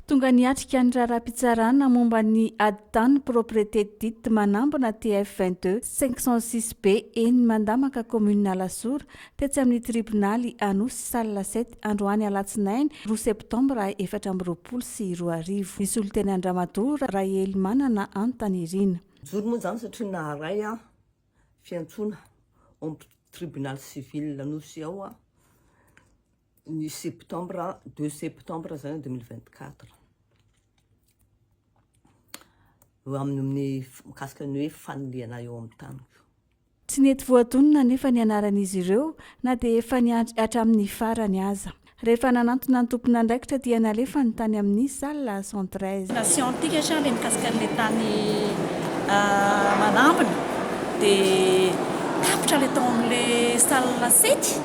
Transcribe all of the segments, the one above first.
Tonga niatrika ny raharaham-pitsarana momba ny Adi-tany Propriété dite manambina TF 22 506 B eny Mandamaka Commune Alasora tetsy amin'ny Tribonaly Anosy Salle 7 androany Alatsinainy roa Septambra efatra amby roapolo sy roa arivo. Nisolo teny Andramatoa Rahelimanana Antanirina. Nijoro moa izany satria naharay aho fiantsoana ao amin'ny Tribonaly Civil Anosy ao aho. ny septembre, 2 septembre zany 2024. Eo amin'ny mikasika ny hoe fanilihana eo amin'ny taniko. Tsy nety voadonina anefa ny anaran'izy ireo na dia efa niandry hatramin'ny farany aza. Rehefa nanantona ny tompon'andraikitra dia nalefany tany amin'ny salle cent treize. Scientika sa le mikasika an'le tany manambina dia tapitra le tao am'le salle sety.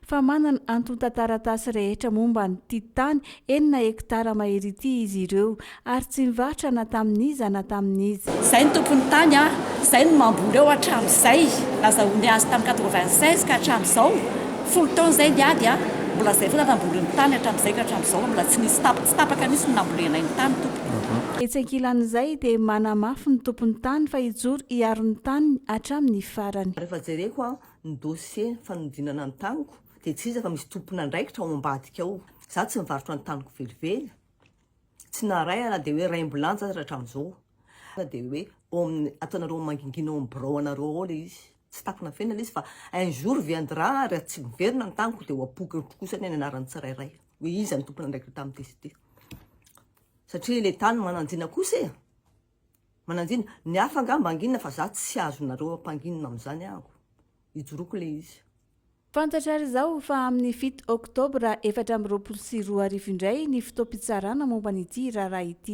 fa manana antontan-taratasy rehetra momba an'ity tany enina hektara mahery ity izy ireo, ary tsy nivarotra na tamin'iza na tamin'iza. Izay no tompon'ny tany ary izay no mamboly eo hatramin'izay. Nazahoany azy tamin'ny quatre-vingt-seize ka hatramin'izao, folo taona izay ny ady, mbola izay foana namboliny ny tany hatramin'izay ka hatramin'izao, mbola tsy nisy tapaka, tsy tapaka mihitsy ny nambolenay ny tany, tompoko. Etsy ankilan'izay dia manamafy ny tompon'ny tany fa hijoro hiaro ny taniny hatramin'ny farany. Rehefa jereko aho ny dossier fanodinana ny taniko dia tsy iza fa misy tompon'andraikitra ao ambadika ao, za tsy nivarotra ny taniko velively, tsy naharay aho na dia hoe raim-bilanja aza hatramin'izao, na dia hoe ao amin'ny ataonareo mangingina ao amin'ny birao anareo ao ilay izy, tsy takona feno ilay izy fa un jour viendra raha tsy miverina ny taniko dia ho apoaka eto kosa anie ny anaran'ny tsirairay hoe iza no tompon'andraikitra tamin'ity sy ity, satria ilay tany mananjina kosa e, Mananjina, ny hafa angaha mba hanginina fa za tsy azonareo hampanginina amin'izany aho. Hijoroako ilay izy. Fantatra ary izao fa amin'ny fito oktobra efatra amby roapolo sy roa arivo indray ny fotoam-pitsarana momba an'ity raharaha ity.